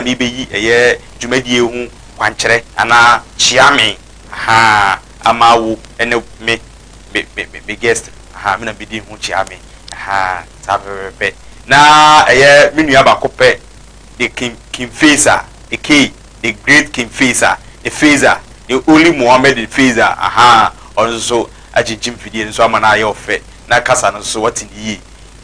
merebeyi ɛyɛ dwumadie yi ho kwankyerɛ anaa kyea me ahaa ama wo ne me me me me me guest ahaa me na mebedi ho kyea me ahaa saa pɛpɛpɛpɛ na ɛyɛ me nua baako pɛ the king king faisal the key the great king faisal the faisal the only mohammed the faisal ahaa ɔno nso so akyinkyim mfidie no nso ama no ayɛ ɔfɛ na kasa no nso so wate no yie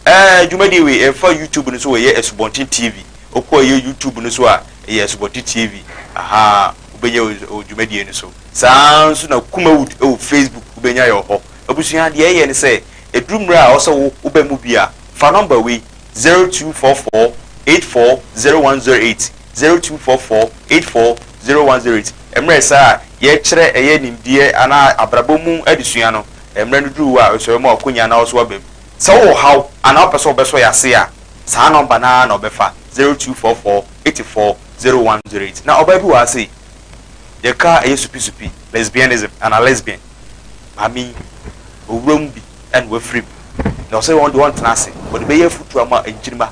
ɛɛ dwumadie wei ɛfa youtube no so wei yɛ asubɔnten tv. Wokɔ ɛyɛ YouTube no so a, ɛyɛ Asubɔte TV, ahaa, wobɛnya wɔ dwumadie no so. Saa ara nso na Kumawood wɔ Facebook, wobɛnya yɛ wɔ hɔ. Abusua, deɛ ɛyɛ ne sɛ, ɛduru mmerɛ a ɛwɔ sɛ wo woba mu bi a, fa nɔmba wei, zero two four four eight four zero one zero eight, zero two four four eight four zero one zero eight. Mmerɛ saa a yɛrekyerɛ ɛyɛ nimdeɛ anaa abrabɔ mu adesua no, mmerɛ no duru wo a, ɛwɔ sɛ woma w'akonya na wo nso woba mu. Sɛ wowɔ ɔhaw anaa wopɛ sɛ wobɛsɔ yɛn ase a, Saa nɔmba no ara na ɔbɛfa, zero two four four eighty four zero one zero eight. Na ɔbaa bi wɔ ha sei, yɛkaa ɛyɛ supisupi, lesbianism, anaa lesbian. Maame yi, owura mu bi na wafiri mu, na ɔsɛ wɔn deɛ ɔntena ase. Ɔde bɛyɛ afutuo ama nkyirimma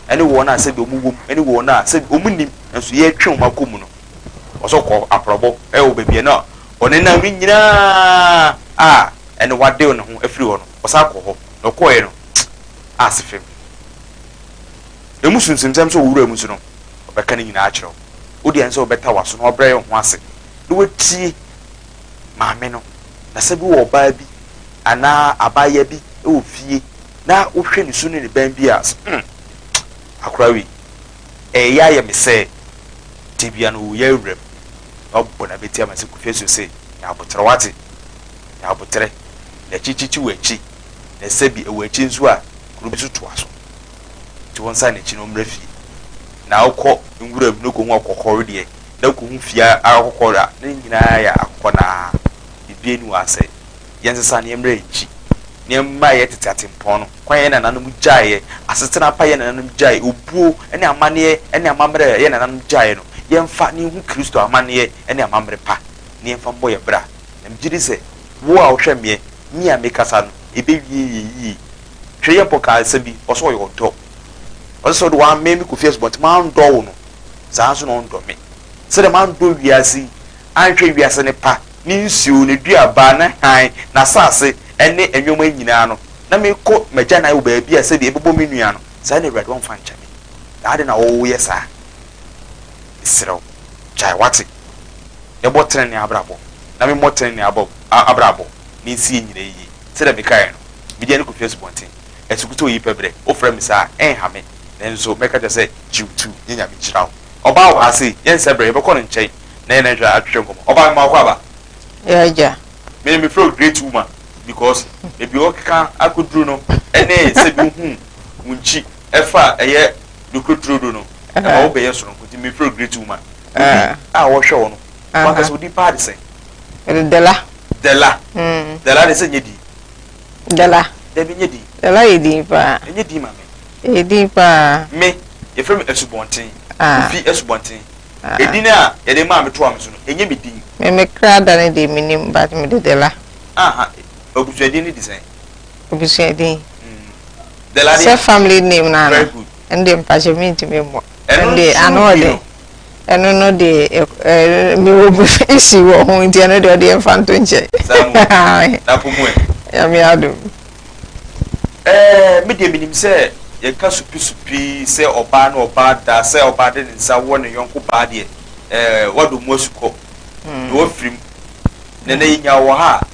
ne wɔn a sɛdeɛ wɔn wom ne wɔn a sɛ wɔn nnim nso yɛretwe wɔn akɔ mu no. Ɔsɛ ɔkɔ aprɔbɔ wɔ baabi a na ɔnenam no nyinaa a ɛne wadew ne ho afiri hɔ no. ɔsan kɔ hɔ na ɔkɔɔɛ no aase fam emu sunsumsɛm sɛ ɔwura mu nso no ɔbɛka ne nyinaa akyerɛ wo wode ɛnsɛ wobɛta waso na wabrɛ yɛn ho ase na watie maame no na sɛ bi wɔ ɔbaa bi anaa abaayewa bi wɔ fie na wohwɛ ne su ne ne bɛn bi a hmm akora wei ɛyɛ ayɛ me sɛ tebea no ɔwɔ yɛ awura mu na ɔbɔ na bɛtia ma sɛ kufie so se yɛ aboterɛ wate na aboterɛ, na akyi kyekye wɔ akyi, na ɛsɛ bi ɛwɔ akyi nso a kuro bi nso toa so. Nti wɔn san n'akyi na wɔn mmra fie. Na wokɔ nwura mu na wokɔ hu akokɔ wedeɛ, na wokɔ hu fie akokɔ a, ne nyinaa yɛ akokɔ no ara, biribiara nni wɔn asɛe. Yɛn sesa no yɛn mmra yɛn akyi, na yɛn mma yɛn tete atempɔn no kwan a yɛn nananom gyaeɛ, asetena pa yɛn nananom gyaeɛ, obuo ne amanneɛ ne amammerɛ a yɛn nananom gyaeɛ no, yɛn fa na yɛn hu Kristo amanneɛ ne amammerɛ pa, na yɛn fa mmɔ yɛn bra. Na megye di sɛ wo a wohwɛ meɛ ne a mekasa no, ɛbɛwie yɛ yie. Hwɛ Yɛpɔ kaa asɛm bi, ɔse ɔyɛ ɔdɔ. Ɔse sɛ wode wammɛn me Kofi Asubɔnten mandɔ wo no, saa nso na ɔndɔ me. Sɛdeɛ mandɔ wiase yi, anhwɛ wiase no pa, ne nsuo, ne duaba, ne hann, n'asase, ne nnoɔma nyinaa no, na mekɔ m'agyanan wɔ baabi a sɛdeɛ ɛbɛbɔ me nua no, saa na Awurade ɔmfa nkyɛ me. Na adɛn na woyɛ saa? Mesrɛ wo, gyae w'ate, na bɔ tenenee abrabɔ, na memmɔ tenenee abɔ, a, abrabɔ, na ensi yɛn nyinaa yiye. Sɛnea mekae no, mede yɛn rekotwa asubɔnten, asukutɔw yi pɛ brɛ. Wofrɛ me saa a, ɛnha me, nanso mɛka akyerɛ wo sɛ, Gyew tu, na Nyame nhyira wo. Ɔbaa wɔ ha sei, yɛnsɛ bere, yɛbɛkɔ no nkyɛn na yɛne no atwetwe nkɔmmɔ. Ɔbaa, mema w'akɔ aba. Y'agya. Me, mefrɛ wo Great Woman, because baabi a wɔkeka akoduru no ne sɛ bi wohu wo nkyi. ɛfa a ɛyɛ nokore turodo no, ɛma wo bɛyɛ sononko. Nti me feel great woman. Obi a wɔhwɛ wo no, wankasa wo din paa de sɛn? Dela. Dela. Dela de sɛ nyɛ din? Dela. Dabi nyɛ din. Dela yɛ din paa. Ɛnyɛ din ma me. Ɛyɛ din paa. Me, yɛfrɛ me Asubɔnten. Kofi Asubɔnten. Edin a yɛde maa me toa me so no, ɛnyɛ me din. Me me kra da no deɛ menim but mede Dela. Aha, abusuadin no de sɛn? Ebusua din. Sɛ family name no ano ɛno deɛ mpakyɛw mentumi mmɔ. Ɛno deɛ ano wɔ den. Ɛno no deɛ mewɔ mu issue wɔ ho nti ɛno deɛ ɔdeɛ mfa nto nkyɛn. Nyame adom. Me deɛ menim sɛ yɛka supi-supi sɛ ɔbaa ne ɔbaa da, sɛ ɔbaa de ne nsa wɔ ne yɔnko baa deɛ, wadɔ mu asukɔ na wafirim. Nnɛ na yɛnya wɔ ha a,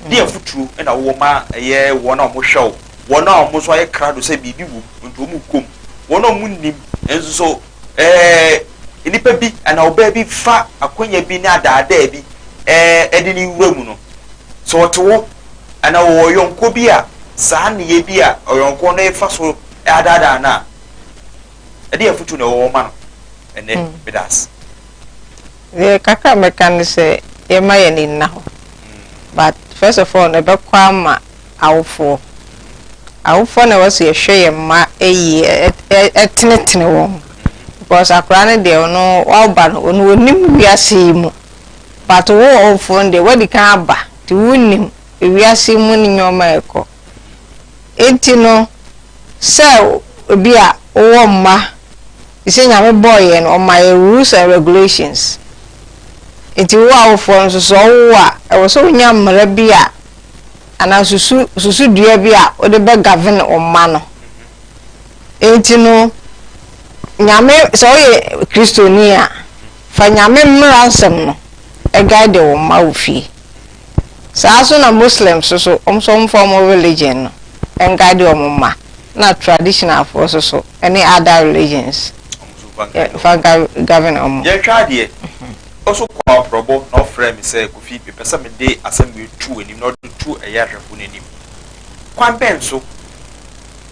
Deɛn afotuo na wowɔ ma ɛyɛ wɔn a wɔhwɛ wo, wɔn a wɔn nso ayɛ krado sɛ biribi wom nti wɔkɔ mu, wɔn a wɔnnim nso so? Ɛɛ, nipa bi anaa ɔbaa bi fa akwanya bi ne adaadaa bi ɛɛ de ne wura mu no, sɛ ɔte hɔ anaa ɔwɔ ɔyɔnkoɔ bi a saa nneyɛɛ bi a ɔyɔnkoɔ no refa so adaadaa no a, Ɛdeɛ afutuo na ɛwɔ hɔ ma no ɛnɛ? Medaase. Deɛ kakra a mɛka ne sɛ yɛmma yɛn ani nna hɔ but first of all no ɛbɛkɔ ama awofoɔ. Awofoɔ na ɛwɔ sɛ yɛhwɛ yɛn mma yie tenetene wɔn because akwadaa no deɛ ɔno waba no ɔno ɔnim wiase yi mu but wo ɔwofoɔ no deɛ woadi kan aba nti wonnim wiase yi mu nneɛma a ɛkɔ. Enti no, sɛ bi a wowɔ mma, efisɛ Nyame bɔɔ yɛn no, ɔma yɛn rules and regulations. Enti wo awofoɔ no nso, sɛ ɔwo wo a, ɛwɔ sɛ wonya mmara bi a, anaa susu, susudua bi a wode bɛ govern wo mma no. Enti no, Nyame, sɛ woyɛ Kristoni a, fa Nyame mmara nsɛm no guide wo mma wo fie. Saa ara so na Muslims so, wɔn nso wɔmfa wɔn religion no nguide wɔn mma, ɛna traditionalfoɔ nso so ne other religions yɛmfa nka govern wɔn. Yɛretwa adeɛ, ɔso kɔɔ abrɔbɔ na ɔfrɛɛ me sɛ, Kofi, mepɛ sɛ mede asɛm wei to w'anim na wode to ɛyɛ ahwɛfoɔ no anim. Kwan bɛn so?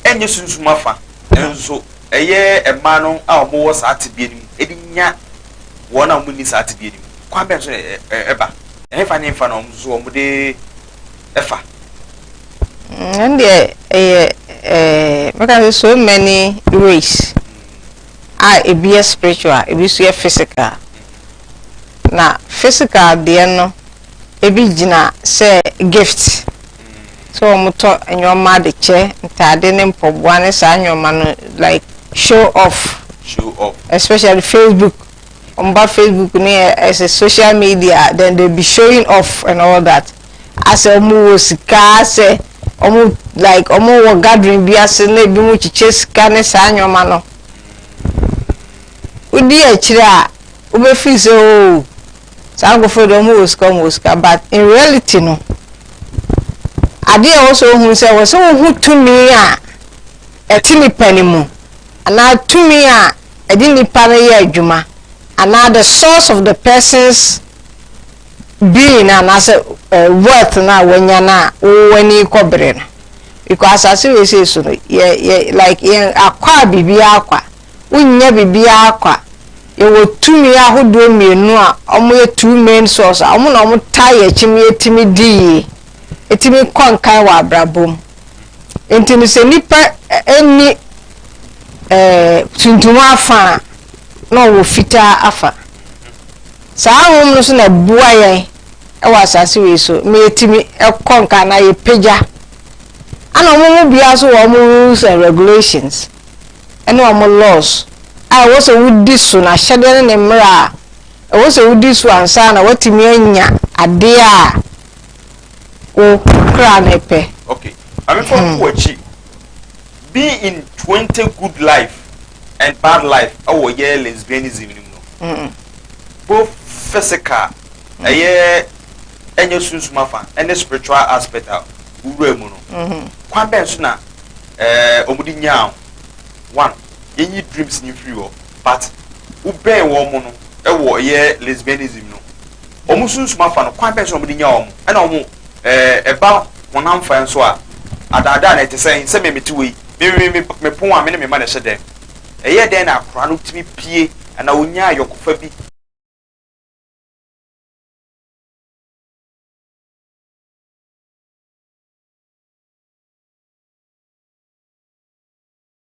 Ɛnyɛ sunsum afa, nanso ɛyɛ mmaa no a wɔwɔ saa tebea no mu de nya wɔn a wɔnni saa tebea no mu. Kwan bɛn so na ɛba? Ɛhefa ne hefa na wɔn nso wɔde fa? Ɛno deɛ ɛyɛ mɛka sɛ so many ways a ebi yɛ spiritual, ebi nso yɛ physical. Na physical deɛ no ebi gyina sɛ gift sɛ wɔn tɔ nneɛma de kyɛ ntaade ne mpɔboa ne saa nneɛma no like show off. Show off. Especially Facebook. wɔba Facebook ne ɛsɛ social media then they be showing off and all that asɛ wɔn wɔ sika asɛ wɔn like wɔn wɔ gathering bi ase na ebi mo kyekyɛ sika ne saa nneɛma no wodi akyire a wobɛfiri sɛ oo oh, saa nkurɔfoɔ deɛ wɔn wɔ sika wɔn wɔ sika but in reality no adeɛ a ɛwɔ sɛ ohun sɛ wɔ sɛ wohu tumi a ɛte nipa ne mu anaa tumi a ɛde nnipa no yɛ adwuma anaa the source of the person's being no anaasɛ uh, wealth no a wanya no a wowɔ ani kɔbere no because asase wei sei so no yɛ yɛ like yɛn akɔ a biribiara akɔ a wonnya biribiara akɔ a yɛwɔ tumi ahodoɔ mmienu a wɔyɛ two main source a wɔn na wɔtaa yɛ akyim yɛtumi di yie etumi kɔ nkan wɔ abrabɔ mu. Nti no sɛ nipa nni ɛɛ tuntum afa a na ɔwɔ fitaa afa. Saa ahom no so na ɛboa yɛn wɔ asase wei so ma yɛtumi kɔ nkan na yɛpagya. Ana wɔn mu biara so wɔ wɔn rules and regulations ɛne wɔn laws a ɛwɔ sɛ wodi so na ahyɛdeɛ ne ne mmerɛ a ɛwɔ sɛ wodi so ansa na watumi anya adeɛ a wo kra ne pɛ. okay maame fa hmm. wo akyi be in twenty good life and bad life ɛwɔ yɛ lesbianism ni mu no hmm. both physical hmm. ɛyɛ ɛnyɛ sunsum afa ɛne spiritual aspect a wura mu no kwan bɛn so na ɛɛ wɔn de nyaa one. yenyi dreams no mfiri hɔ but wo bɛn wɔn mo no wɔ yɛ lesbianism no wɔn sunsum afa no kwan bɛn so na wɔn de nya wɔn ɛna wɔn ɛɛ ɛba honam fa nso a adaadaa na ɛte sɛn sɛ me mete wɔ yi me me me me pon a me ne me ma na ɛhyɛ dɛm ɛyɛ dɛn na akora no tumi pie anaa onya ayɔkofa bi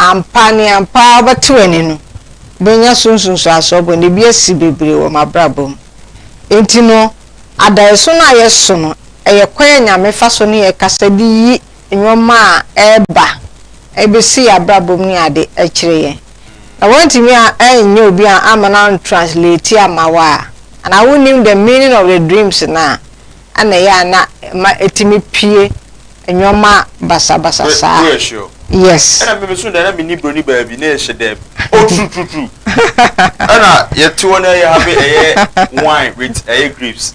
Ampa ne ampa ara wobɛte w'ani no, wobɛnya so nsunsuansoɔ bɔ ne bi asi bebree wɔ m'abrabɔ mu. Enti no, adaeɛso no a yɛso no, ɛyɛ kwan a Nyame fa so ne yɛn kasa de yi nnoɔma a ɛreba ɛbɛsi yɛn abrabɔ mu ne ade akyerɛ yɛn na woantumi anyɛ obi a ama no an translate ama wo a anaa wonnim the meaning of the dreams no a ɛna ɛyɛ a na ɛma ɛtumi pue nnoɔma basabasa saa yes. Ɛna me meso dɛ na menni broni baa bi na ɛhyɛ dɛm oh trutrutru ɛna yɛte hɔ na yɛ have ɛyɛ wine with ɛyɛ grapes.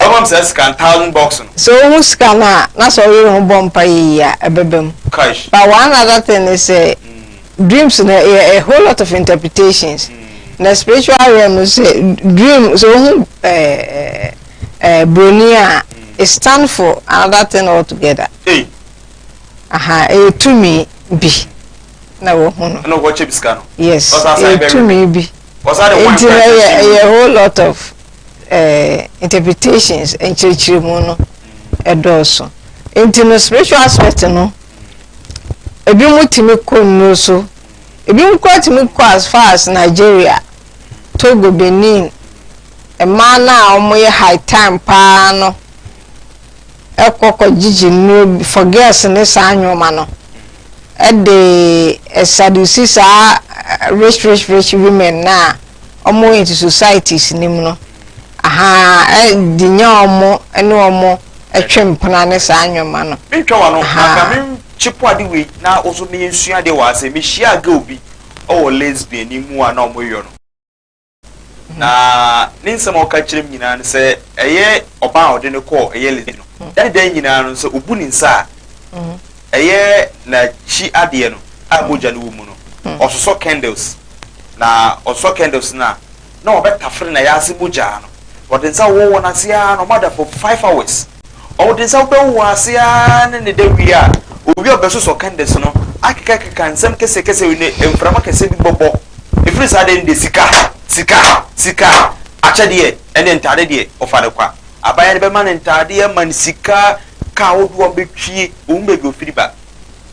Ɛwɔ m saa sika no thousand bucks no. Sɛ ohu sika no a na sɛ ɔyere ho bɔ mpaeɛ yie a ɛbɛba mu Kaish. but one other thing ne sɛ dreams no ɛyɛ a whole lot of interpretations na spiritual realm no sɛ dream sɛ ohu ɛɛ ɛɛ broni a it stand for another thing altogether Ei, aha ɛyɛ tumi bi na wɔhu no ɛna ɔkɔ kyɛ bi sika no. yes Ɔsan san ɛyɛ bɛwe. tumi bi Ɔsan de wine nti na kora ɛyɛ kyɛ ɛyɛ whole lot of eh, interpretations nkyerɛkyerɛmu no ɛdɔɔso nti no spiritual aspect no ebi mu tumi kɔ nnuro so ebi mu kora tumi kɔ as far as nigeria togo benin mmaa no a wɔyɛ high time paa no ɛkɔ kɔ gyigye nnuro for girls ne saa nneɛma no ɛde ɛsadusi saa rich rich rich women no a wɔn into societies no mu no ahaa de nya wɔn ne wɔn twe mpena ne saa nneɛma no. Mentwa w'ano na ka menkye po ade wei na wo nso meyɛ nsua adeɛ wɔ ha sɛ mehyiaa girl bi wɔ lesbian ni mu a na wɔyɔ no na ne nsɛm a ɔka kyerɛ m nyinaa no sɛ ɛyɛ ɔbaa a ɔde no kɔɔ ɛyɛ lesbian no da ne da nyinaa no sɛ ɔbu ne nsa a ɛyɛ n'akyi adeɛ no a mogya no wɔ mu no ɔsosɔ candles na ɔsɔ candles no a, na wɔbɛtafere n'ayaadze mu gyaa no. Ɔdze nsa wowɔ wɔ n'ase ara na ɔada for five hours. Ɔdze nsa bɛwowɔ ase ara na ne da wie a, owie a ɔbɛsosɔ candles no, akekakeka nsɛm kɛsɛkɛsɛ bi na mframa kɛse bi bɔbɔ. Firi saa da no deɛ sika, sika, sika, akyɛdeɛ ne ntaadeɛ deɛ ɔfa no kwa. Abaayewa no bɛma no ntaadeɛ, ama no sika, kaa ahodoɔ a ɔbɛtwie, ɔhu baabi a ɔfiri ba.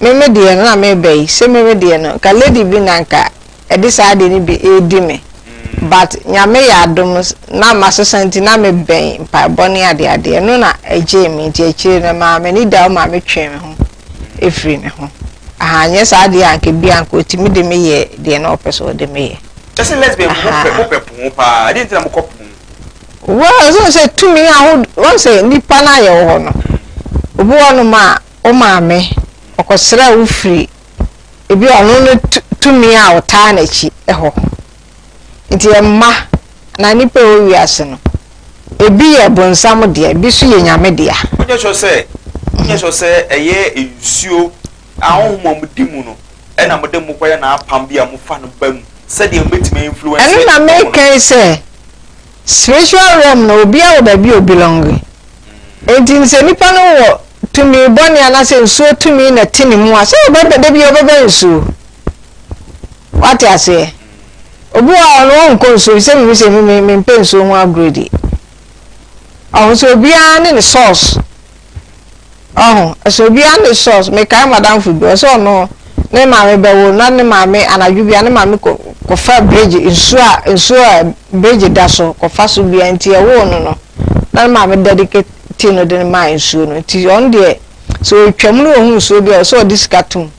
Me me deɛ no na meba yi se me me deɛ no nka lady bi na nka ɛde saa adeɛ no bi redi me but Nyame yɛ adom na masesa nti na me bɛn mpaebɔ ne adeadeɛ ɛno na ɛgyee me nti akyire no ɛmaa m'ani da hɔ maa me twee me ho ɛfiri ne ho aha nyɛ saa adeɛ a nka bi anka ɔtumi de me yɛ deɛ na ɔpɛ sɛ ɔde me yɛ Ɛsɛ lesbian mo pɛ pono paa ɛdeɛ nti na mokɔ pono well ɛsɛ sɛ tumi ahodoɔ wɔn sɛ nipa no ayɛ wɔ hɔ no obi wɔ nom a wo maame, ɔkɔsraa wo firi ebi ɔno no tumi a ɔtaa n'akyi hɔ. Nti mma na nipa ɛwɔ wiase no, ebi yɛ bonsam dea, ebi nso yɛ nyame dea. Wonyɛ sure sɛ, wonyɛ sure sɛ ɛyɛ nsuo a honhom a modi mu no ɛna mode mo kɔyɛ n'apam bi a mofa no ba mu sɛdeɛ mobɛtumi influence. Ɛno na meka yi sɛ. Spiritual realm no obiara wɔ baabi a obelonge enti sɛ nipa no wɔ tumi bɔne anaasɛ nsuo tumi na ɛte ne mu a sɛ ɔbɛbɛ da biara ɔbɛbɛ nsuo wate aseɛ obi wɔ a ɔno ɔnkɔ nsuo bi sɛ mimi sɛ mimi mempɛ nsuo ho agorɔ di ɔho sɛ obiara ne ne source Ɔho sɛ obiara ne source. Mekae madamfo bi, ɔsɛ ɔno ne maame bɛwo na ne maame anadwo bia ne maame kɔ kɔfa bridge nsuo a nsuo a bridge da so kɔfa so bia nti ɛwoo no no na ne maame dedicate ti no de no maa nsuo no nti ɔno deɛ sɛ ɔtwam no ɔhu nsuo bi a ɔsɛ ɔde sika tom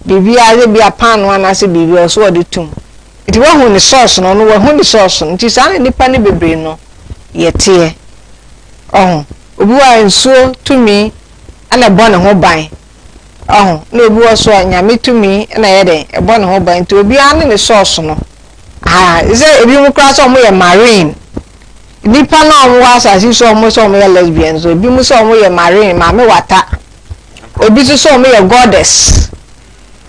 biribi a yɛ bi a paano anaasɛ biribi a ɔsɛ ɔde tom nti wahu ne source no ɔno wahu ne source no nti saa na nipa ne bebree no yɛteɛ ɔho. Obi hɔ a nsuo tumi na ɛbɔ ne ho ban, wahu, na obi hɔ nso a Nyame tumi na ɛyɛ dɛn, ɛbɔ ne ho ban, nti obiara ne ne source no, ahaa, te sɛ ebinom koraa sɛ wɔn yɛ marine, nnipa no a wɔn wɔ asase yi so a wɔn sɛ wɔn yɛ lesbian nso, ebinom sɛ wɔn yɛ marine, maame wata, ebi nso sɛ wɔn yɛ goddess,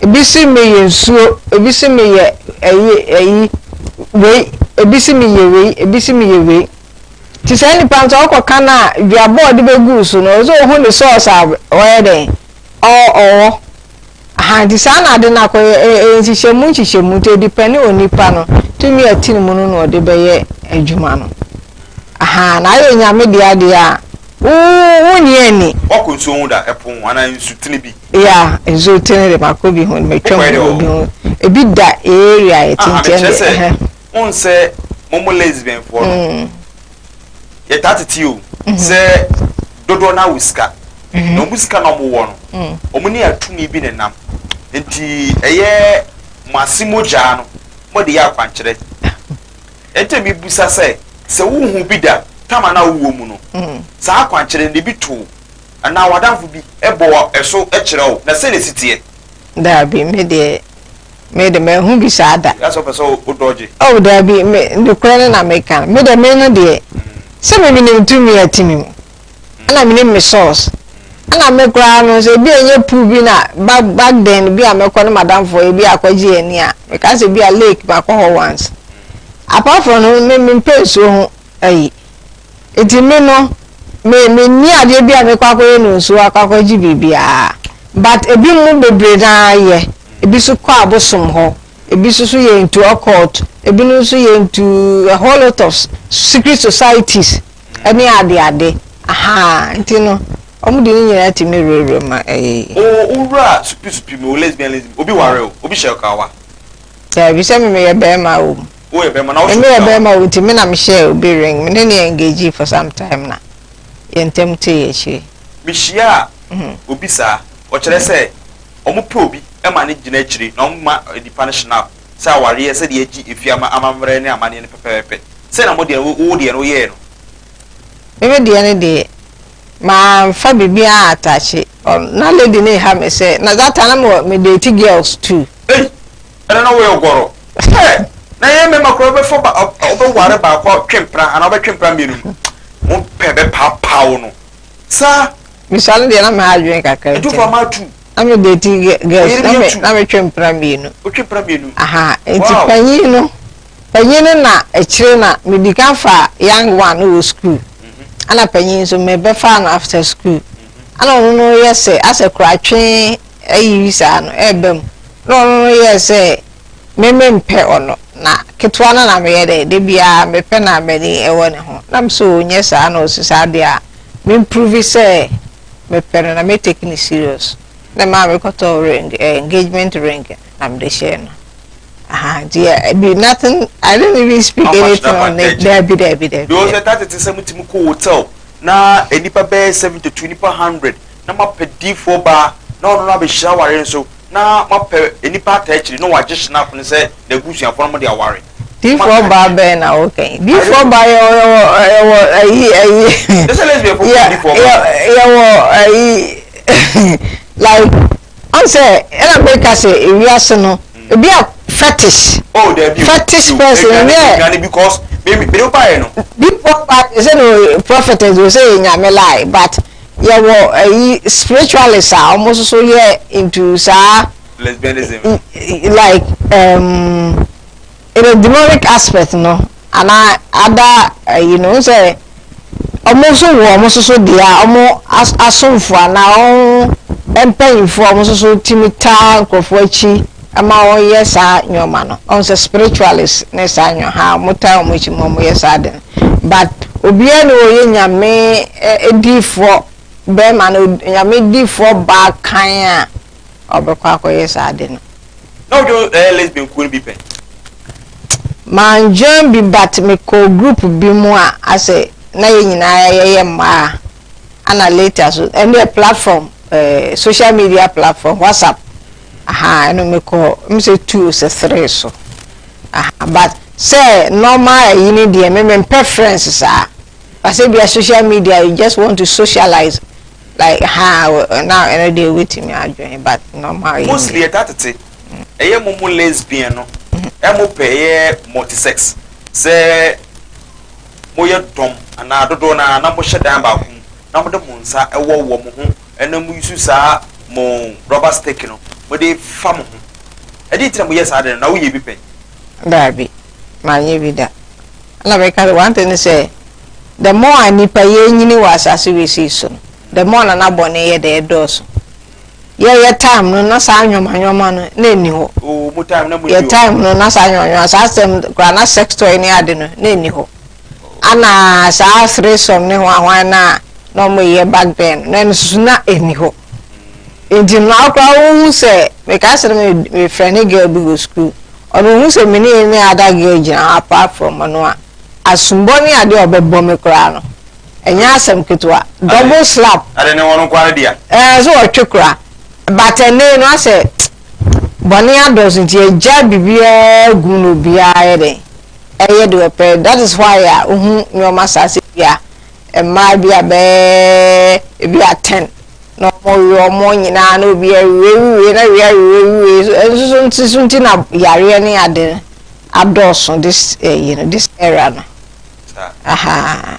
ebi si me yɛ nsuo, ebi si me yɛ ɛyi, ɛyi, wei, ebi si me yɛ wei, ebi si me yɛ wei. Nti saa nipa no sɛ ɔkɔ ka no a duaba a ɔde bɛguu so no ɔsɛ sɛ ɔhu ne source a ɔyɛ dɛn ɔwɔ aha nti saa na ade no akɔyɛ ɛyɛ nhyehyɛmu nhyehyɛmu nti ɛdipɛne onipa no tumi a ɛte ne mu no na ɔde bɛyɛ adwuma no aha na ayɛ nyame de adeɛ a wonni ani wakɔ nsuo ho da ɛpo ho anaa nsutene bi ya nsutene de makɔ bi ho metwam wɔ bi ho ebi da area ɛtintiɛ de mo n sɛ mo mo lesbianfoɔ no mm. yɛtaa tete o mm-hmm. sɛ dodoɔ no awo sika mm-hmm. na ɔmo sika na ɔmo wɔ no mm. ɔmo ne atumi bi ne nam nti ɛyɛ mo ase mogyaa no mo de yɛ akwankyerɛ ɛnti mi busa sɛ sɛ wohu bi da tam anaa wowɔ mu no mm. saa akwankyerɛ no ebi to anaa wadanfo bi ɛbɔ ɛso ɛkyerɛ o na sɛ na esi teɛ. Daabi, me deɛ, me de manhu bi saa da. Yɛ asɛ ɔpɛ sɛ o dɔgye. Oh daabi, me, nokorɛ no na meka no. Me deɛ me no deɛ, sɛ me menim tumi a ɛte me mu, ɛna menim me source, ɛna me koraa no sɛ ebi a ɛnyɛ pool bi na ba, back then bi a mɛkɔ ne madamfoɔ yɛ bi a akɔgye yɛn ani a, meka sɛ bi a lake makɔ hɔ once. Apart from no, me mempɛ nsuo ho ayi. Nti me no, me menni adeɛ bi a mekɔ akɔyɛ no nsuo akɔ akɔgye biribiara. But ebi mu bebree no ara yɛ. Ebi so kɔ abosom hɔ, ebi so so yɛ into occult, ebi no nso yɛ into a whole lot of secret societies ɛne ade ade. Ahaa, nti no, wɔn de ne nyinaa tumi werɛwerɛ mu ɛyɛ yie. O wura supi supi mu o lesbianism, obi ware o, obi hyɛ ɔkawa. Daabi, sɛ me meyɛ barima o. Woyɛ bɛrima na wohyɛ Mene yɛ bɛrima o nti me na mehyɛɛ obi ring. Me ne no engagee for some time na yɛn ntam tee akyire. Mehyiaa obi saa. Ɔkyerɛ sɛ wɔpɛ obi ma no gyina akyire na wɔma nipa no shenap sɛ awareɛ sɛdeɛ yɛgye ɛfie amammerɛ ne amanneɛ no pɛpɛɛpɛ. Sɛn na modeɛ no, wo deɛ no woyɛɛ no? Meme deɛ no deɛ, mamfa biribiara antaakye. Na lady no reha me sɛ, na that time na mewɔ, me date girls too. Ei! Ɛno no woyɛ ogɔrɔ. Sɛ na ɛyɛ mɛma koraa wobɛfa ba wobɛware baako atwe mpena anaa wobɛtwe mpena mmienu no wo pɛ bɛpaapaa wo no saa. Bisa no deɛ na mɛ adwene kakra nti. Ɛtufo ama atu. Na mɛ deti girls na mɛ na mɛ twe mpena mmienu. O twe mpena mmienu. Aha nti panyin no panyin no na akyire na mɛ di kan fa young one no wɔ school. Ana panyin nso mɛ bɛfa no after school. Ana ɔno no yɛ sɛ asɛ koraa twe ayi saa no ɛreba mu na ɔno no yɛɛ sɛ me mempɛ ɔno na ketewa no na meyɛ dɛ da biara mepɛ na m'ani ɛwɔ ne ho na mesɛ ɔnyɛ saa na ɔsi saa deɛ a me mprove sɛ mepɛ no na me take ne serious na maa mekɔtɔ ring eh, engagement ring na mede hyɛɛ no aha nti ɛbi nothing I didn't even speak anything on it daabi daabi daabi. Yɛ ɔsɛ taa tete sɛ mo ti mo kɔ hotel na nipa bɛyɛ seventy two nipa hundred na moapɛ difoɔ baa na ɔno no abɛhyira awareɛ nso, na moapɛ nnipa ataa akyiri na wɔagye Shenaf no sɛ n'abusuafoɔ na mode aware. Difoɔ baa bɛn na woka yi? Difoɔ baa yɛwɔ yɛwɔ yɛwɔ ayi ayi. Te sɛ lesbian fo kɔ difoɔ baa. Yɛwɔ ayi like ɔn sɛ ɛna meka sɛ ewiase no ebi a fetish. Oh dabi o fetish person yɛ. Eduane eduane because me me de wo baa yɛ no. Difoɔ baa yɛ sɛ no prophetess o sɛ yɛ nyame lie but. Yɛwɔ ɛyi spiritualist a ɔmo soso yɛ into saa. Lesbianism. Like um, in a demonic aspect no ana ada ɛyi no nsɛ ɔmo so wɔ ɔmo soso deɛ a ɔmo asomfo ana ɔmo mpanyinfo ɔmo soso timi taa nkorɔfo akyi. Ɛma wɔyɛ saa nnoɔma no ɔhu sɛ spiritualist ne saa nnoɔma haa wɔn taa wɔn akyi ma wɔyɛ saa ade no but obiara ni wɔyɛ nyame diifoɔ bɛrima no nyame diifoɔ baa kan a ɔbɛkɔ akɔyɛ saa ade no. Na odwo ɛyɛ lesbian kuo no bi pɛ. Man join bi but me kɔɔ group bi mu a asɛ na yɛ nyinaa yɛyɛ mmaa ana later so ɛndeɛ platform eh, social media platform whatsapp ahaa ɛno mekɔ m sɛ two sɛ three so ahaa but sɛ normal ɛyi ne deɛ me mempɛ friends saa basɛ bia social media you just want to socialize like ha na ɛno deɛ wobɛtumi adwene but normal yi mostly ɛta tete ɛyɛ mo mo lesbian no ɛmo pɛ ɛyɛ multisex sɛ moyɛ dɔm anaa dodoɔ no ara na mohyɛ dan baako mu na mode mo nsa ɛwɔ wɔ mo ho ɛna mo use saa mo rubber stick no mo de fa mo ho ɛdeɛn nti na mo yɛ saa ade no na wo yɛ bi pɛn. Daabi ma nyɛ bi da ɛna me ka sɛ one thing ne sɛ the more a nipa yɛ nyini wɔ asase wei sei so no the more na na bɔne yɛ dɛ ɛdɔɔso yɛ yɛ time no na saa nyɔma nyɔma no na ɛni hɔ oh, yɛ time no na saa nyɔma nyɔma saa sɛm kora na sex toy ne ade no na ɛni hɔ. Ana saa threesome ne hwan hwan no a na ɔmo yɛ back then no ɛno soso na ɛni hɔ nti no akora wo hu sɛ meka sɛ me me frɛ ne girl bi wɔ school ɔno hu sɛ me ne ne ada girl gyina hɔ apart from ɔno a asombɔ ne adeɛ ɔbɛbɔ me koraa no ɛnyɛ asɛm ketewa double slap ade ne wɔn nkware dea ɛɛ so ɔtwe koraa but ɛnɛ no asɛ bɔne adɔso nti ɛgya biribiara gu no obiara yɛ dɛn Ɛyɛ deɛ ɔpɛ that is why a wohu nneɛma saa sɛ bi a mmaa bi a bɛyɛ ebi a ten na wɔwe wɔn nyinaa na obi awie wie na wie awie wie so nso so nti so nti na yareɛ ne ade adɔɔso this ɛyi eh, no this era no. Aha.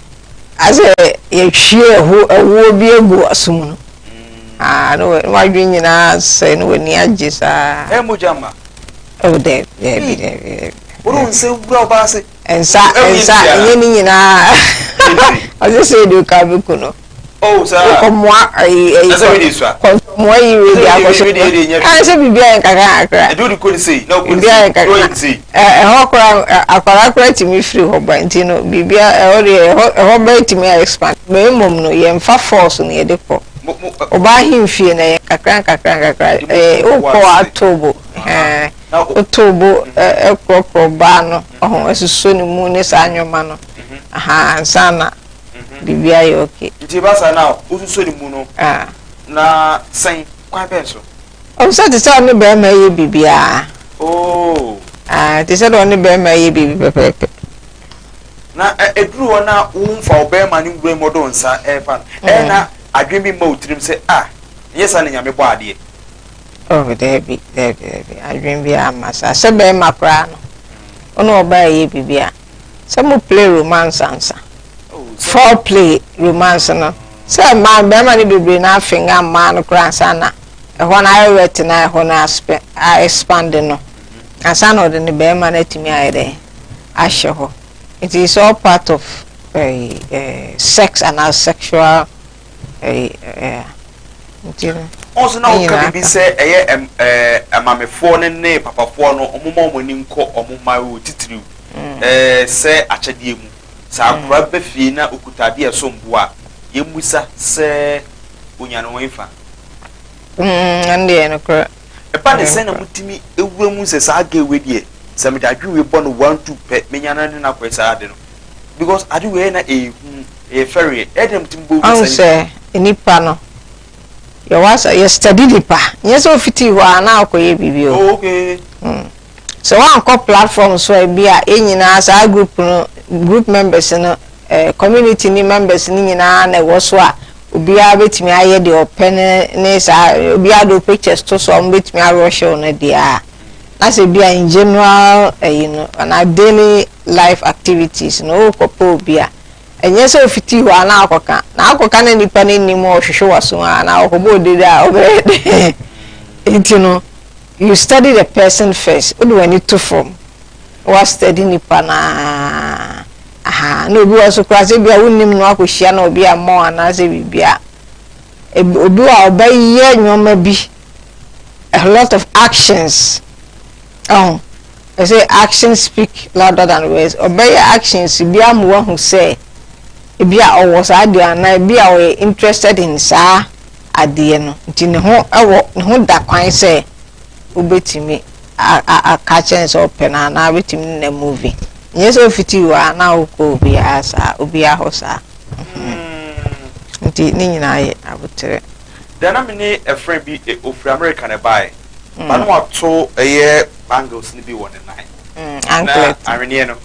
Asɛ yɛtwie ɛho ɛwoɔ bi agu w'aso mu no aa ne w'adwene nyinaa asɛe ne w'ani agye saa. Ɛyɛ mogya mma. Oh daabi daabi daabi daabi. Wone nsa wura ɔbaa ase. Nsa nsa nyɛ ne nyinaa ɔsɛ sɛ ɛdi oka bɛku no. Oh saa. Wokɔ mmoa ayi ayi. Ɛsɛ mi de nsua. Kɔ nsua mmoa yi wei de akɔ so. Ɛsɛ sɛ biribi ayɛ nkakra nkakra. Ɛdi wodi kɔ ne sei na okɔ ne sei. Biribi ayɛ nkakra. Ɛhɔ kora akwadaa kora tumi firi hɔ ba nti no biribi ɛhɔ deɛ ɛhɔ ɛhɔ bɛyɛ tumi ayɛ expand. Bɛyɛ mmom no yɛn fa force no yɛde kɔ. Ɔbaa ahemfie na yɛ nkakra nkakra nkakra ɛɛ okɔ ato bo ɛɛ oto bo ɛkorɔkorɔ baa no ɔho ɛsoso ne mu ne saa nneɛma no aha nsa na. Mhm. biribi ayɛ okay. Nti ɛba saa na wosuso ne mu no Ah. na sɛn kwan bɛn so? Ɔm sɛ te sɛ ɔne barima yɛ biribiara. Oh. Ah, te sɛ deɛ ɔne barima yɛ biribi pɛpɛɛpɛ. Na ɛ- ɛduru hɔ na womfa wo bɛrima ne nwura mu ɔde wo nsa ɛrefa no ɛyɛ na adwene bi mma wo tirim sɛ a ɛnyɛ saa na nyame bɔ adeɛ Oh, daabi, daabi, daabi. Adwene biara mma saa. Sɛ barima koraa no, wo ne ɔbaa yɛ biribi a, sɛ mo play romance ansa fore play romance no sɛ mmaa mmarima no bebree na afenga mmaa no koraa ansa na ɛhɔ no ayɛ wet na ɛhɔ no expand no ansa na ɔde ne barima no atumi ayɛ dɛ ahyɛ hɔ it is all part of uh, uh, sex and our sexual Ɔnso na woka biribi sɛ ɛyɛ amamefoɔ no ne papafoɔ no ɔmo ma ɔmo ani nkɔ ɔmo mma oo titiriw sɛ akyɛdeɛ mu sɛ akora ba fie na okuta adeɛ a ɛsom bo a yɛn mmusa sɛ onya no wɛn fa. Ɛba no sɛn na motumi wura mu sɛ saa girl wei deɛ sɛ mede adwene wei bɔ no one two pɛ menya no ne no akɔyɛ saa ade no because ade wei ɛyɛ na ɛyɛ hu ɛyɛ fɛreɛ ɛyɛ dɛn motumi bɔ wura saa nipa no. sɛ nipa no yɛwɔ asɛ yɛ study nipa nyɛ sɛ ofitii hɔ a na akɔyɛ biribi o. Oh okay. Mm. Sɛ woankɔ platform so a ebi a yɛn nyinaa saa group no group members no eh, community ne members no nyinaa na ɛwɔ so a obiara betumi ayɛ deɛ ɔpɛ ne ne saa obiara de pictures to so a wɔn betumi arɔhyew no deɛ a na sɛ bi a in general ɛyi eh, no anaa daily life activities no ɔrekɔpɛ obi a ɛnyɛ sɛ ofiti hɔ a na akɔka na akɔka na nipa no anim ɔhwehwɛ waso a na ɔkɔbɔ odede a ɔbɛyɛ dɛ nti no. You study the person first, wode w'ani to fam na wa study nipa no ara, ahaa, na obi wɔ hɔ nso koraa sɛ ebi a wonnim no akɔhyia no obi ammɔ anaasɛ biribi a, obi wɔ a ɔbɛyɛ nneɛma bi, a lot of actions, ɛho, they say actions speak louder than words, ɔbɛyɛ actions bi ama wahu sɛ ebi a ɔwɔ saa deɛ anaa ebi a ɔyɛ interested in saa adeɛ no nti ne ho wɔ ne ho da kwan sɛ wobɛtumi aka akyerɛ no sɛ ɔpɛ no anaa wobɛtumi ne na movie nyɛ sɛ ofiti wɔ a na wokɔ obiara saa obiara hɔ saa mm. nti ne nyinaa yɛ aboterɛ deɛ na mene ɛfrɛ bi e, ɔfiri amerika na ɛbaeɛ mm. ba no wato ɛyɛ bangles no bi wɔ ne nan mm, na ahweneɛ no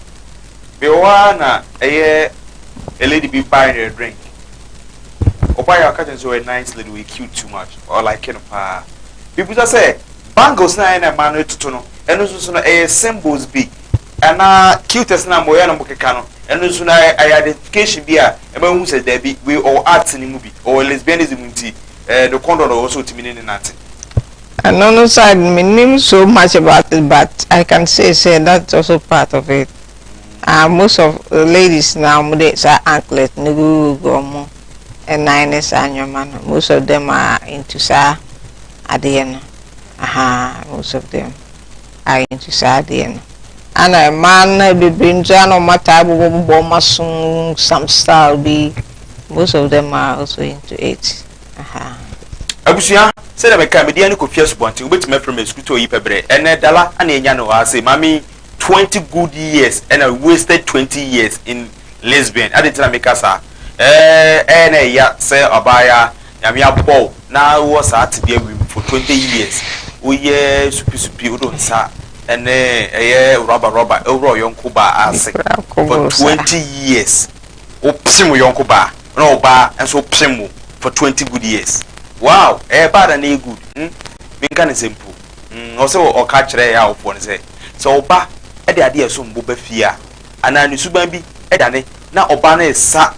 bi wɔ hɔ a na ɛyɛ lady bi buy ne drink Ɔbaa yi a ɔka kyerɛ no sɛ ɔyɛ nice lady, ɔyɛ cute too much, ɔlike no paa. Mibisa sɛ, Bangles no a ɛna mmaa no retoto no, ɛno nso so no, ɛyɛ symbols bi? Anaa cuteness no a mmɔyaa no keka no, ɛno nso no, ɛyɛ identification bi a ɛma wohu sɛ dabi, wei ɔwɔ arts no mu bi, ɔwɔ lesbianism nti, ɛɛ, no kɔndɔn na ɔwɔ sɛ otumi ne no nante? Ɛno no nso, mennim so much about it, but I can say sɛ that's also part of it. Ah most of ladies na wɔn de saa anklet no gugugu wɔn nan ne saa nneɛma no. Most of them are into saa adeɛ no. Aha, most of them are into saa adeɛ no. Ana mmaa no bebree nso a na wɔn ataa bobɔ bobɔ wɔn aso some style bi. Most of them are also into it. Aha. Abusua, sɛdeɛ meka, mede yɛn ani kɔtwi asubɔnten, wobɛtumi afiri me sukuu too yi pɛ berɛ. Ɛnnɛ, Dala na yɛnya no hɔ ase. Maame yi, twenty good years ɛna wasted twenty years in lesbian adi nti na meka saa ɛɛ ɛyɛ na ɛya sɛ ɔbaaya nyame abɔ o na wɔ saa tebea wim for twenty years woyɛ supisupi wode nsa ɛne ɛyɛ rɔba rɔba ɛwura ɔyɔnko baa ase for twenty years wopem ɔyɔnko baa na ɔbaa nso wopem wo for twenty good years wow ɛyɛ bad na ɛyɛ good hmm menka ne sɛ mpo mm, ɔsɛ sɛ ɔka kyerɛ awofoɔ no sɛ, sɛ ɔba de adeɛ a ɛsom bo ba fie a, anaa ne suban bi dane na ɔba no resa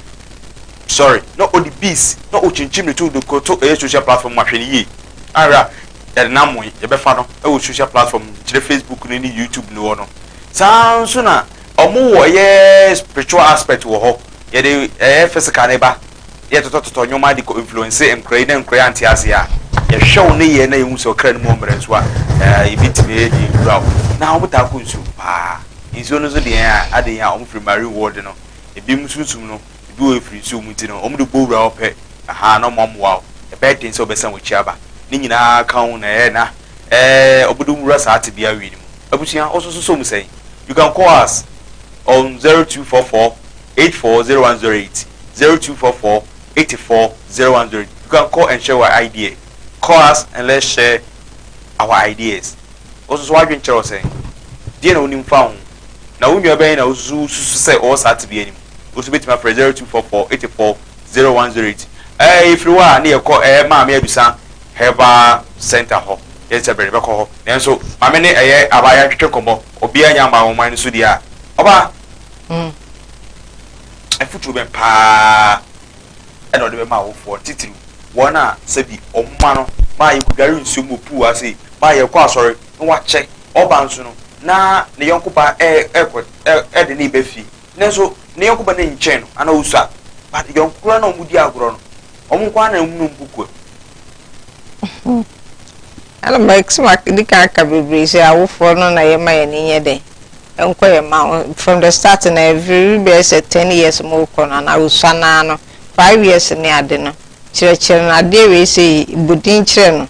sɔre na ɔde bees na ɔkyinkyim ne to de kɔto ɛyɛ social platform mu a, hwɛ no yie. Ahwɛ a yɛde no amoe, yɛbɛfa no wɔ social platform, kyerɛ Facebook no ne YouTube no hɔ no. Saa ara nso na wɔwɔ ɛyɛ spiritual aspect wɔ hɔ, yɛde ɛyɛ physical no ba. na yɛtotɔtotɔ nnoɔma de kɔ influence nkora yi na nkora yi ante aseɛ a, yɛhwɛ wo nneyɛɛ na yɛhu sɛ ɔkra no mu ɔmmrɛ nso a, ɛɛ yɛbɛtumi ɛyɛ deɛ ɛkura wo. Na wɔn taa kɔ nsuom paa. Nsuo no nso deɛ ɛyɛ a, ade yɛn a wɔn firi marine world no, ɛbinom sunsum no, ɛbi wɔ ɛfiri nsuom nti no, wɔn de bɔ wura hɔ pɛ, ahaa, na wɔn amoa wo, ɛbɛyɛ den sɛ wɔbɛsan wɔn akyi aba. Ne nyinaa ara ka ho na ɛyɛ na ɛɛ wɔde wɔn wura saa tebea wei no mu. Abusua, wo nso so sɔ mu sɛn? You can call us on zero two four four. eight four zero one zero eight zero two four four eighty four zero one zero eight you can call and share your idea call us and let's share our ideas wo nso so w'adwene kyerɛ wo sɛn deɛ na wonim fa ho na wo nua bɛn na wosusu susu sɛ ɔwɔ saa tebea no mu wo nso bɛtumi afrɛ zero two four four eighty four zero one zero eight ɛɛ yɛfiri hɔ a ne yɛkɔ ɛɛ maame adusa herbal center hɔ yɛn sɛ bɛrɛ bɛkɔ hɔ nanso maame ne ɛyɛ abaayewa ntwetwe nkɔmmɔ obiara nya mmaa wɔn man no so deɛ a ɔba ho afotuo bɛn pa ara na ɔde bɛma awofoɔ no, titiriw wɔn a sɛbi wɔn mma no ma yɛkɔdware nsuom wɔ puu ase, ma yɛkɔ asɔre na wakyɛ, ɔba nso no na ne yɔnko ba rekɔ de ne reba fie nanso ne yɔnko ba no nkyɛn no anaa ɔsua but yɔnko koraa no a wɔdi agorɔ no wɔn nko ara na wɔn ne wɔn kɔkua mu. Ɛna mɛdi kan aka bebree sɛ awofoɔ no na yɛma yɛn ani nyɛ dɛ. Nkɔ yɛ mma wo from the start no ɛveri bɛyɛ sɛ ten years mo rekɔ no anaa osua no ara no five years ne ade no kyerɛ kyerɛ no adeɛ wei sei bɔ din kyerɛ no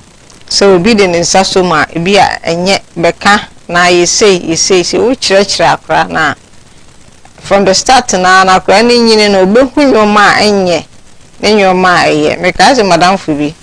sɛ obi de ne nsa sɔ mu a ebi a ɛnyɛ bɛka anaa yɛ sei yɛ sei sei wo kyerɛ kyerɛ akora no a from the start no ara no akora no nyini no ɔbɛhu nnoɔma a ɛnyɛ ne nnoɔma a ɛyɛ mekae sɛ madamfo bi.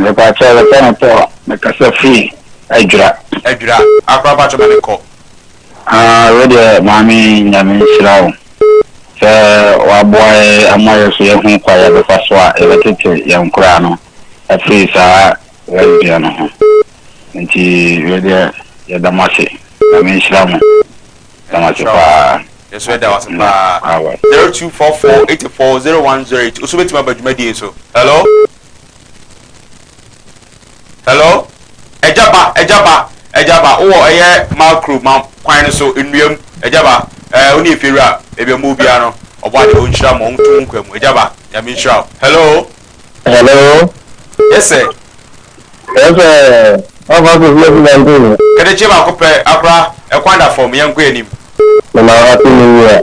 Mepakyɛw yɛfrɛ no Paul mekasa firi adwira. Adwira akora pakyɛw ma me kɔ. Haa wedeɛ maame nyame nhyira wo sɛ waboa yɛ ama yɛ so yɛ hu kwa yɛbɛfa so a yɛbɛtete yɛ nkoraa no afiri saa lesbian no ho nti wedeɛ yɛda mo ase nyame nhyira mo yɛda mo ase paa yɛso yɛda wase paa 0244 84 0108 oso bɛtumi aba dwumadie so hello Hello? Agya ba, agya ba, agya ba, wowɔ ɛyɛ macro ma kwan no so, nnua mu, agya ba, ɛɛ, eh, wo ne efiewura, ebi a mu biara no, ɔbɔ ade, ɔnhyira mo, ɔnto mo nkwa mu, agya ba, nyame nhyira wo. Hello? Hello? Yes, sir. Yes, sir. How far is Messi and Bruno? Kede cheba kope akora ekwan da fam yenko enim. Na happy new year.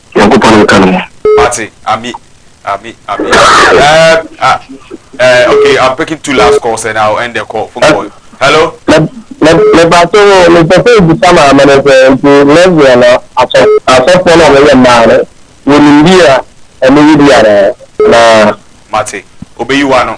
Nyankopɔn nka no mo. Mate, ami, ami, ami, ami, um, ah, eh, okay, I'm picking two last calls and I'll end the call, phone call. Hello? Me, me, me ba so, me pɛ sɛ ebisa maame no sɛ, nti lesbian no, asɔ, asɔfoɔ no a wɔyɛ mmaa no, wɔnim bi a ɛno yɛ bi anaa? Anaa? Mate, obeyi w'ano.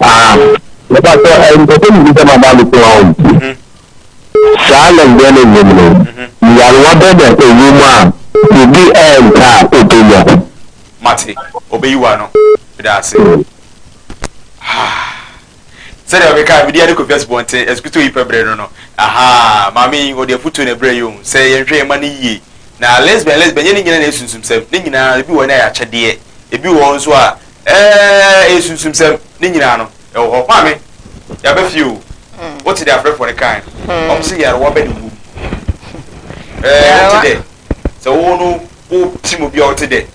Ah mepatɔ eh, mpɛsɛ medi sɛ maba me so hɔ o. Saa na mbrɛ ne nyem no, nyarewa bɛ na ɛwɔ mu a obi ɛɛmpɛ a obenya? Mate, obeyi wo ano. Meda ase. Ahaa. Sɛdeɛ ɔkeka mede ade kɔfi asubɔnten asukutoo yi pɛ berɛ no no. Ahaa, maame yi ɔde afutuo na ɛbrɛ yɛn o, sɛ yɛnhwɛ yɛn mma no yie. Na lesbian lesbian nyɛ ne nyina na ɛyɛ sunsumsɛm, ne nyinaa ebi wɔ hɔ no ɛyɛ akyɛdeɛ, ebi wɔ hɔ nso a, Ɛɛ esunsumsɛm ne nyinaa no ɛwɔ hɔ. Maame, yaba fie o. Hmm. Wote dɛ afrɛfoɔ no kan no. Hmm. Wɔn se yarewa bɛ ne wom. Ɛɛ eh, wote dɛ sɛ wo no wo tim obi a wote dɛ.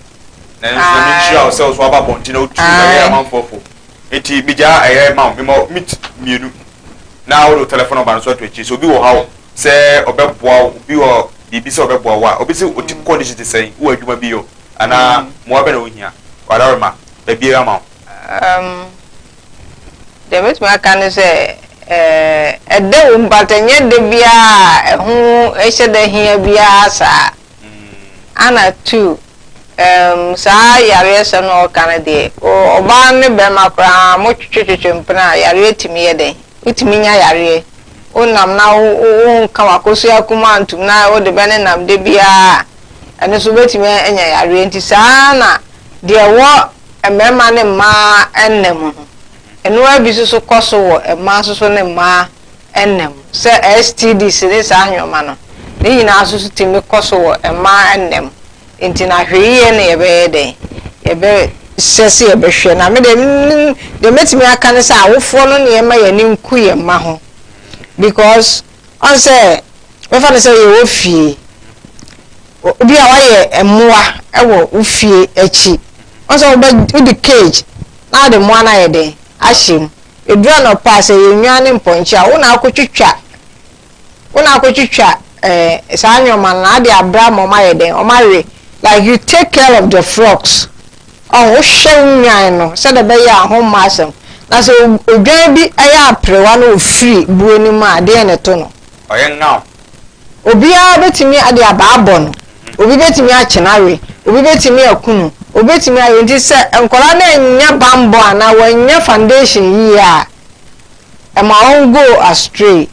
Na nso na menhyira wo sɛ wo so aba abɔnten na wotu na yɛ amanfoɔ fo. Nti megyaa ɛyɛ ma wo mema mit mmienu na wode wo telefon nɔmba no so ato akyiri sɛ obi wɔ ha o sɛ ɔbɛboa wo obi wɔ biribi sɛ ɔbɛboa wo a obi sɛ otim kɔndihyin te sɛn wowɔ adwuma bi yɛ o. Anaa mmoa bɛn na wuhia? W'ada rema baabiara ma wo. Um, deɛ mɛtumi aka ne sɛ, eh, ɛda wom but ɛnyɛ da biara a ɛho ɛhyɛ da hia biara saa. Ana mm. two, um, saa yareɛ sɛ no ɔka no deɛ, ɔbaa ne bɛrima koraa motwetwetwetwe mpena a yareɛ tumi yɛ dɛn? Wotumi nya yareɛ. Wonam na wonka wakosua kuma ntum na wode bɛne nam da biara Ɛno nso wobɛtumi anya yareɛ. Nti saa ara na deɛ ɛwɔ mmarima ne mmaa nna mu no, ɛno ara bi nso so kɔ so wɔ mmaa nso so ne mmaa nna mu. Sɛ STDs ne saa nneɛma no, ne nyinaa nso so tumi kɔ so wɔ mmaa nna mu. Nti na hwɛyie no yɛbɛyɛ dɛn? Yɛbɛ hyɛ sɛ yɛbɛhwɛ. Na me deɛ deɛ mɛtumi aka ne sɛ awofoɔ no na yɛmma yɛn ani nku yɛn mma ho because. Ɔn sɛ bɛfa no sɛ yɛwɔ fie. Obi a wayɛ mmoa wɔ wo fie akyi. Ɔn sɛ wobɛ wode cage na wode mmoa no ayɛ dɛn ahyɛ mu. Ɛduru anɔpa a sɛ ɛyɛ nnwan ne mpɔnkye a wo na akɔ twitwa wo na akɔ twitwa eh, saa nnoɔma no na ade abra ma ɔma yɛ dɛn ɔma we like you take care of the frogs Ɔhwɛ nnwan no sɛdeɛ ɛbɛyɛ a ho mmɔ asɛm, na sɛ odwan bi yɛ aperewa na ɔfiri buo no mu a, deɛn na ɛto no? Ɔyɛ nnam. Obiara bɛtumi de abaa abɔ no, obi bɛtumi akye no awe, obi bɛtumi aku no, obi bɛtumi ayɛ. Nti sɛ nkwadaa no annya bammɔ anaa wɔannya foundation yie a, Ɛma wɔn go astray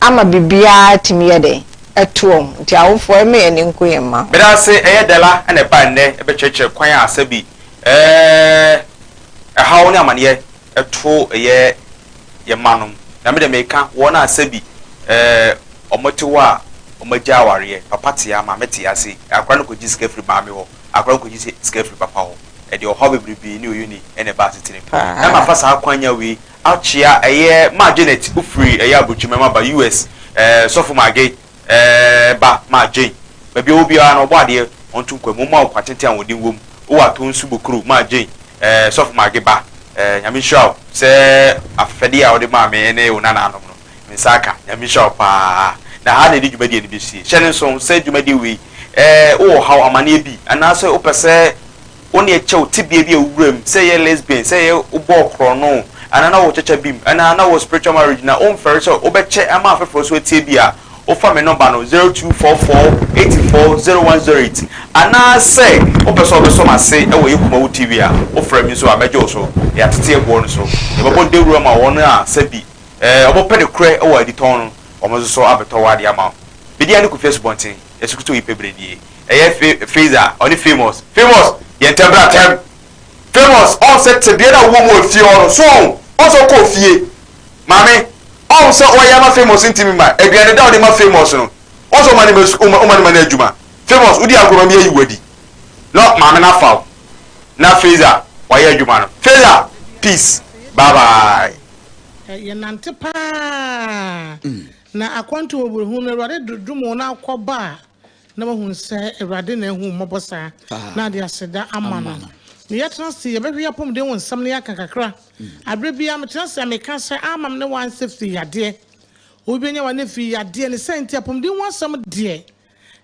ama biribiara atumi yɛ dɛn? Atu wɔn. Nti awofoɔ ɛma yɛn ani nku yɛn mma ho. Meda ase ɛyɛ Della na ɛbaa nnɛ ɛbɛkyerɛkyerɛ kwan a sɛ bi ɛɛɛ ɛhaw ne amaneɛ ɛto ɛyɛ yɛn mma nom na me deɛ meka wɔn a sɛ bi ɛɛɛ wɔn te hɔ a wɔn agya awareɛ papa te ama me te ase akora no kɔgye sika firi maame hɔ akora nkogye sɛ sika firi papa hɔ. Ɛde ɔhaw bebrebe ne oye ni na ɛba asetena mu. Na mafa saa kwanya wei akyea ɛyɛ Ma Janet ofiri ɛyɛ Aburukyiri mɛma ba US ɛɛ Sɔfo Maggie ɛɛ ba Ma Jane. Baabi ɔwɔ biara no ɔbɔ adeɛ ɔnto nkwam ɔmma wo kwa tenten a wɔn din wom wowɔ Atoo Nsu Bokuro Ma Jane ɛɛ Sɔfo Maggie ba ɛɛ Nyame nhyira wo sɛ afɛfɛdeɛ a wode maa me ne wo nanaanom no. Nsa aka. Nyame nhyira wo paa. Na ha na yɛde dwumadie no bɛsie. Hyɛ no nso sɛ dwumadie wei eh, wowɔ ɔhaw, amaneɛ bi, anaasɛ wopɛ sɛ wo ne yɛ kyɛ wo tebea bi a wowura mu, sɛ yɛ lesbian, sɛ yɛ wobɔɔ korɔno, anaa na wowɔ kyakya bi mu, anaa na wowɔ spiritual marriage na womfɛre sɛ wobɛkyɛ ama afoforɔ nso atie bi a, wofa me nɔmba no, zero two four four eighty four zero one zero eight. Anaasɛ wopɛ sɛ wobɛsɔ m'ase wɔ yɛ Kumawu TV a, wofrɛ me nso a, mɛgye wo so. Yɛatete ɛboɔ no so. Yɛbɛbɔ dawuro ama wɔn a sɛ bi. Ɛɛ, wɔbɛpɛ nokorɛ wɔ aditɔn no, wɔn nso so abɛtɔ wɔn adeɛ ama wo. Medi ane Kofi Asubɔnten, Yesucristo yi pɛ bredie. Ɛyɛ Fe, Feza, ɔne Famous. Famous! Yɛ ntɛm bra tɛm! Famous, ɔn sɛ tebea no a wowɔ mu wɔ fie hɔ no, so ɔn? Ɔn sɛ wokɔɔ fie? Maame, ɔn sɛ ɔyɛ ama Famous ntimi mma, aduane da a wode ma Famous no, ɔn sɛ woma no ma sukuu, woma no ma no adwuma. Famous, wodi agorɔ ma me ayi wo adi. No, maame no afa wo. Na Feza, wayɛ adwuma no. Feza, peace, bye bye. Eh, yɛnante paa. Na akwantu wɔ borɔhunu no, Awurade dodom wo na akɔba a, na wahu sɛ Awurade na ahu mmɔbɔ saa, na ade aseda ama no. Na yɛtena se yɛbɛhwe apɔmuden wo nsɛm na yɛaka kakra. Aberɛ biara metena se a meka sɛ amam ne wansɛ fii yadeɛ. Obi bɛnya wane fii yadeɛ ne sɛ nti apɔmuden ho asɛm deɛ.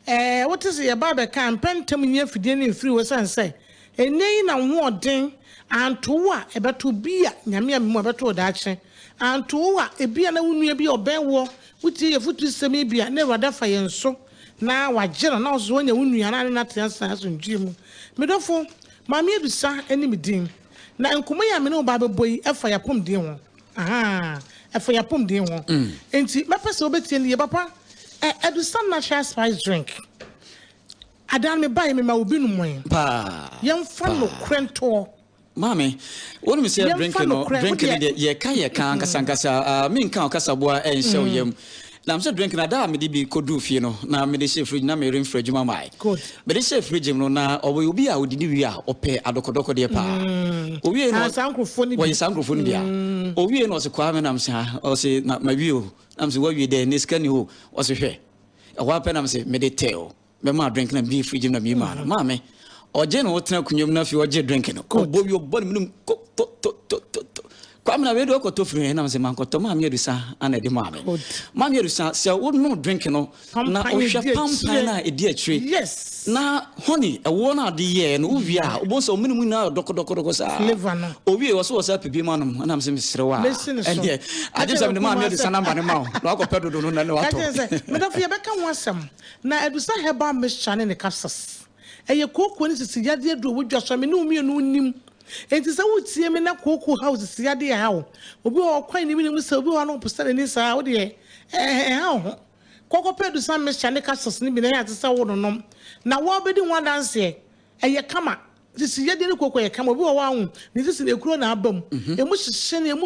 Ɛɛ, wote se yɛbaa bɛkaa mpɛ ntɛm nyi afidie no mfiri hɔ esiane sɛ ɛnnɛ yi na wo ho ɔden, anto wo a ɛbɛto wo, bi a, Nyame ammemu a, ɛbɛto wo daakye, anto wo a, ebia na wo nua bi a ɔbɛn woɔ, wotie yɛn afutusɛm yi bi a, na Awurade afa yɛn so na wagye no, na wo nso woanya wo nua na ne no ate ase asomdwoeɛ mu. Me dɔfo, Maame Adusa ne me din, na nkɔmmɔ yi a me ne wo ba abɛbɔ yi fa yɛn apɔmuden ho. Ahaa, ɛfa yɛn apɔmuden ho. Enti mɛpɛ sɛ wobɛtie no yie. Papa, ɛ, Adusa Natural Spice Drink, adaa no mebaeɛ mema wo bi nomoe. Paa. Yɛmfa nokorɛ ntoɔ. Maame, wonim sɛ drink no, drink no deɛ, yɛka yɛka ankasankasa, ah, menka ɔkasaboa nhyɛ wo yam. Nam sɛ drink na daa mede bi kɔduu fie no na mede hyɛɛ fridge na meremfiri adwuma mae. Mede hyɛɛ fridge mu no na ɔyɛ obi a ɔdidi wie a ɔpɛ adɔkɔdɔkɔdeɛ paa. Ɔwiei no wɔyɛ saa nkurɔfoɔ no bi a. Ɔwiei no ɔse kwaa me nam se ah ɔse na mawie o nam se wawie dɛn na sika ni hɔ o ɔse hwɛ ɛhɔ ara pɛ nam se mede tɛ o bɛmaa drink na meyii fridge mu na meyii maa no maa me ɔgye na ɔtena akonnwa mu na afei ɔgye drink no ɔbɔ wi ɔbɔ ne mu nom ko to to to to to kwame na wei de ɔkɔtɔ firi hɛn nam sɛ mankɔtɔ maame adusa ana ɛde maa me maame adusa sɛ wonom drink no na wohwɛ pampan no a ɛdi akyire na honey ɛwoɔ no ade yɛɛ no wowie a wobɛhu sɛ ɔmene mu nyinaa dɔkɔdɔkɔdɔkɔ saa owie wɔ so wɔ sɛ apɛ bi ma nom anam sɛ mesere wo a ɛneɛ agye sɛ mede maame adusa namba no ma wo na wakɔpɛ dodo no na ne watɔ medɔfo yɛbɛka ho asɛm Na Adusa herbal mixture ne ne capsules. Ɛyɛ kooko ne sisi yadeɛ aduro wɔ dwa so a me ne wo mmienu nnim. Enti sɛ woretie me na kooko haw sisi yadeɛ ɛha wo, obi wɔ hɔ ɔkwan ne menim sɛ obi wɔ hɔ a na ɔpɛ sɛ n'ani saa a, wo deɛ ɛɛ ɛha wo ho. Kɔ kɔpɛ Adusa mixture ne capsules no bi na ɛyɛ ate sɛ wononom na wɔrebɛdi ho adanseɛ. Ɛyɛ kama. Sisi yadeɛ ne kooko yɛ kama. Obi wɔ hɔ a, wo ho, ne sisi no ekuro na aba mu. Emu hyehye na emu.